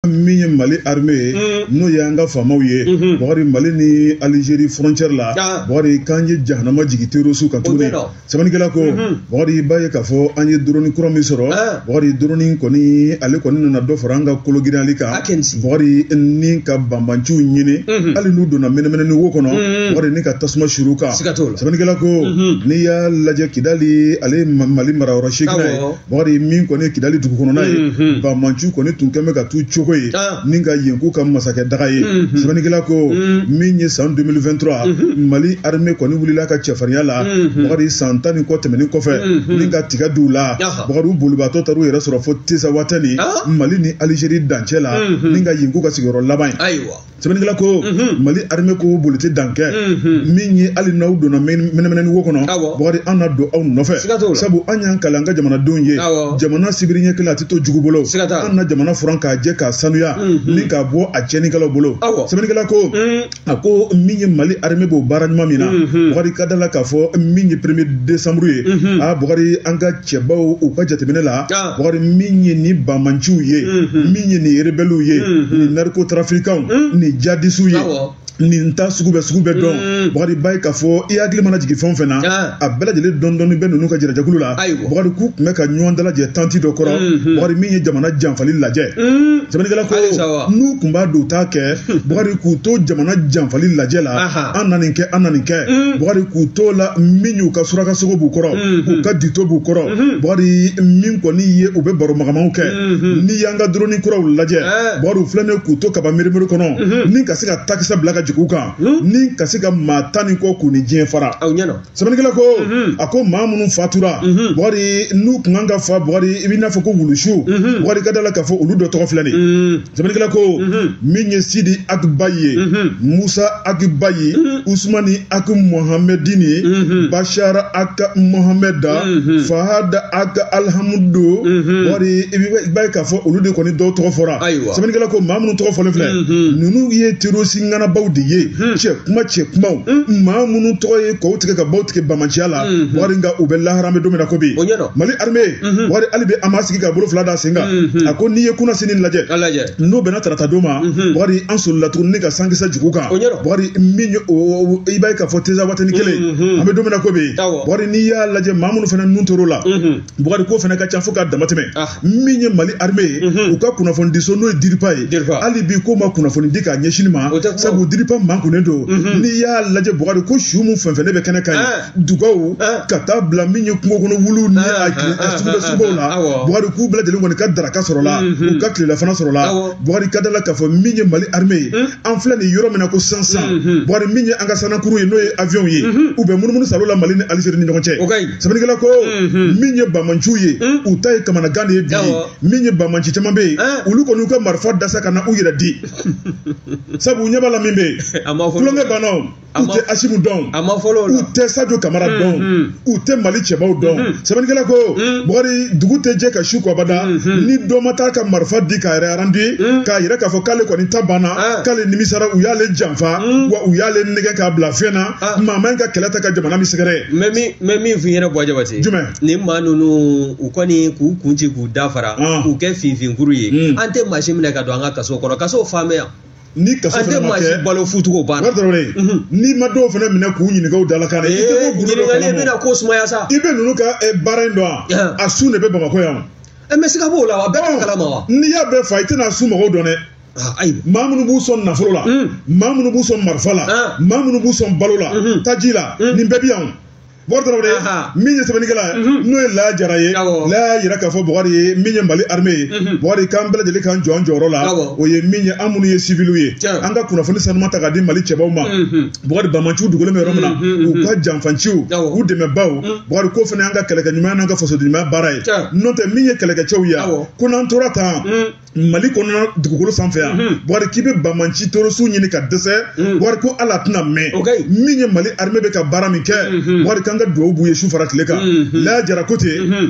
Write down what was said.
min ye mali armée ye mm. n'o y'an ka faamaw ye mm-hmm. bakari mali ni alizeri frontière la ah. bakari k'an ye jahanama jigin terrorisiw kan tuguni sɛbɛnnikɛla ko mm-hmm. bakari i b'a ye k'a fɔ an ye doroni kura min sɔrɔ ah. bakari doroni kɔni ale kɔni nana dɔ fara an ka kologirinyali kan ah, bakari ni ka banbanciw ɲini mm-hmm. hali n'u donna mɛnɛmɛnɛni wo kɔnɔ bakari ni ka tasuma suuru u kan sɛbɛnnikɛla ko n'i y'a lajɛ kidali ale ye mali marayɔrɔ seeginnan ye Bakari min kɔni ye kidali dugu kɔnɔna ye mhm. banbanciw kɔni tun kɛmɛ ka tu cogo ye ah. ni ka yen k'u ka masakɛ daga ye mhm. sɛbɛnnikɛla ko mhm. min ye san 2023 mali armée kɔni wulila ka cɛfarinya la bakari san tan ni kɔ tɛmɛnen kɔfɛ ni ka tɛgɛ d'u la bakari u bolibaatɔ taar'u yɛrɛ sɔrɔ fo tinzawatɛni ah. mali ni alizeri dancɛ la ni ka yen k'u ka sigiyɔrɔ laban ye sɛbɛnnikɛla ko mali armée ko boli tɛ dan kɛ min ye hali n'aw donna mɛnɛmɛnɛni wo kɔnɔ Awɔ. bakari an na don aw nɔfɛ Siga t'o la. sabu an y'an kali an ka jamanadenw ye Awɔ. jamana sibiri ɲɛ kelen a tɛ to jugu bolo Siga t'a la. an na jamana furan k'a jɛ k'a sanuya ni k'a bɔ a tiɲɛnikɛlaw bolo Awɔ. sɛbɛnnikɛla ko a ko min ye mali armée b'o baara ɲuman min na bakari ka da la k'a fɔ min ye premier décembre ye a bakari an ka cɛbaw u ka jateminɛ la ah. bakari min ye ni banbanciw ye mhm. min ye ni erebɛliw ye mhm. ni narikotrafikanw mhm. ni jihadisiw ye nin ta sugu bɛɛ sugu bɛɛ don bakari i b'a ye k'a fɔ i hakili mana jigin fɛn o fɛn na ah. a bɛɛ lajɛlen dɔɔni dɔɔni bɛ ninnu ka jɛrɛjɛkulu la bakari k'u tun bɛ ka ɲɔgɔn dalajɛ tanti dɔ kɔrɔ bakari min ye jamana janfali lajɛ sɛbɛnnikɛla ko n'u tun b'a don u t'a kɛ Hmm. Bakari k'u to jamana janfali lajɛ la an na nin kɛ an na nin kɛ hmm. Bakari k'u to la min y'u ka surakasogo b'u kɔrɔ hmm. k'u ka dute b'u kɔrɔ Bakari min kɔni ye u bɛ baro makamaw kɛ n'i y'an ka doroni kuraw lajɛ eh. Bakari u filɛnen k'u to kaba mirimiri kɔnɔ ni ka se ka takisɛ bila ka jigin u kan ni ka se ka maa tan ni kɔ k'u ni diɲɛ fara sɛbɛnnikɛla ko mhm. a ko maa minnu fatura mhm. bakari n'u tun kan ka fa bakari i b'i n'a fɔ ko wulusu mhm. bakari ka da la k'a fɔ olu dɔ tɔgɔ filɛ nin sɛbɛnnikɛla ko min ye sidi ag baye musa ag baye usumani ag mohamɛdini bashara ag mohamɛda fahada ag alihamudu bakari i b'a ye k'a fɔ olu de kɔni dɔw tɔgɔ fɔra sɛbɛnnikɛla ko maa minnu tɔgɔ fɔlen filɛ ninnu ye terorisi ŋanabaw de ye cɛ kunba cɛ kunbaw maa minnu tɔgɔ ye kɔw tigɛ ka baw tigɛ banbanciya la bakari nka u bɛ lahara an bɛ don min na ko bi mali arime bakari hali bi a m'a sigi ka bolo fila da sen kan a ko n'i ye kunasinin lajɛ n'o bɛnna tarata don ma bakari an solila tuguni ni ka sankisɛ jigin u kan bakari min i b'a ye k'a fɔ tinzawatɛni kelen an bɛ don min na ko bi bakari n'i y'a lajɛ maa minnu fana tun tor'o la Bukari ko fana ka ca fo ka dama tɛmɛ ah. min ye Mali armée ye mhm. u ka kunnafoni diso n'o ye DIRPA ye hali bi ko ma kunnafoni di k'a ɲɛsin ma sabu DIRPA mankunnen don mhm. n'i y'a lajɛ Bukari ko su mun fɛn fɛn ne bɛ kɛnɛ kan ye ah. dugaw ah. ka taa bila min ye kungo kɔnɔ wuluw ni a suguda sugubaw la Bukari k'u bɛɛ lajɛlen kɔni ka daraka sɔrɔla mhm. u ka tilelafana sɔrɔla Bukari ka da la k'a fɔ min ye Mali armée ye an filɛ nin yɔrɔ min na ko sisan sisan mhm. bɔkari min ye an ka sanakuru ye n'o ye avion ye mhm. u bɛ munumunu salo la mali ni alizeri ni ɲɔgɔn cɛ sɛbɛnnikɛla ko mhm. min ye bamanciw ye u ta ye kamanagan de ye bi ye min ye bamanci caman bɛ yen ah. olu kɔni u ka marifa da sa ka na u yɛrɛ di sabu u ɲɛ b'a la min bɛ yen tulonkɛ banna u tɛ asimu dɔn a ma fɔlɔ u tɛ sajo kamara mm, dɔn mm. u tɛ mali cɛbaw dɔn mm, sɛbɛnnikɛla ko bɔkari dugu tɛ jɛ ka su ko abada ni dɔ ma taa ka marifa di k'a yɛrɛ arandi k'a yɛrɛ k'a fɔ k'ale kɔni ta banna ah. k'ale nimisara u y'ale janfa wa u y'ale nɛgɛ k'a bila fɛn na ah. maa man ka kɛlɛ ta ka jamana min sɛgɛrɛ mɛ min mɛ min f'i ɲɛna bɔ jabate jumɛn nin maa ninnu u kɔni k'u kun ci k'u dafara ah. k'u kɛ finfinkuru ye an tɛ maa si minɛ ka don an ka kaso kɔnɔ kaso faamaya ni kaso An tɛ fana ma maa si kɛ balo futuko o banna wari dɔrɔn de ye n'i ma dɔw fana minɛ k'u ɲininka u dalakan na i tɛ bɔ gundo dɔ ɲininkali kalama bɛna ko sumaya sa i bɛ ninnu ka eh, baara in dɔn Yan. wa a sun de bɛ bamakɔ yan wa. ɛ mɛ siga b'o la wa bɛɛ t'o kalama wa n'i y'a bɛɛ fa i tɛna a su mɔgɔw dɔn dɛ Ah, ayi maa minnu b'u sɔn nafolo la Mm. maa minnu b'u sɔn marifa la Ah. maa minnu b'u sɔn balo la Mhm. taji la Mhm. nin bɛɛ bi yan o. Bɔkari Tarawele Ahan. min ye sɛbɛnnikɛla ye Mhm. n'o ye Laya Jara ye Awɔ. Laya y'a jira k'a fɔ Bɔkari min ye Mali armée ye Mhm. Bɔkari k'an bɛɛ lajɛlen k'an jɔ an jɔyɔrɔ la Awɔ. o ye min ye an minnu ye civiliw ye Tiɲɛ. an ka kunnafoni sanuma ta k'a di Mali cɛbaw ma Mhm. Bɔkari Bamanciw dogolen bɛ yɔrɔ min na Mhm, mhm, u ka janfanciw Awɔ. u dɛmɛbaw Mhm. Bɔkari k'o fana y'an ka kɛlɛkɛ ɲuman n'an ka fasodenɲumanya baara ye Tiɲɛ. n'o tɛ min ye kɛlɛkɛcɛw ye Awɔ. ko n'an tora tan Mhm. mali kɔnɔna dugukolo sanfɛ yan mhm. bɔkari k'i bɛ bamanci torosu ɲini ka dɛsɛ mhm. bɔkari ko ala tɛna mɛn min ye mali armée bɛ ka baara min kɛ mhm. bɔkari k'an ka dugawu b'u ye su fara tile kan laya jara ko ten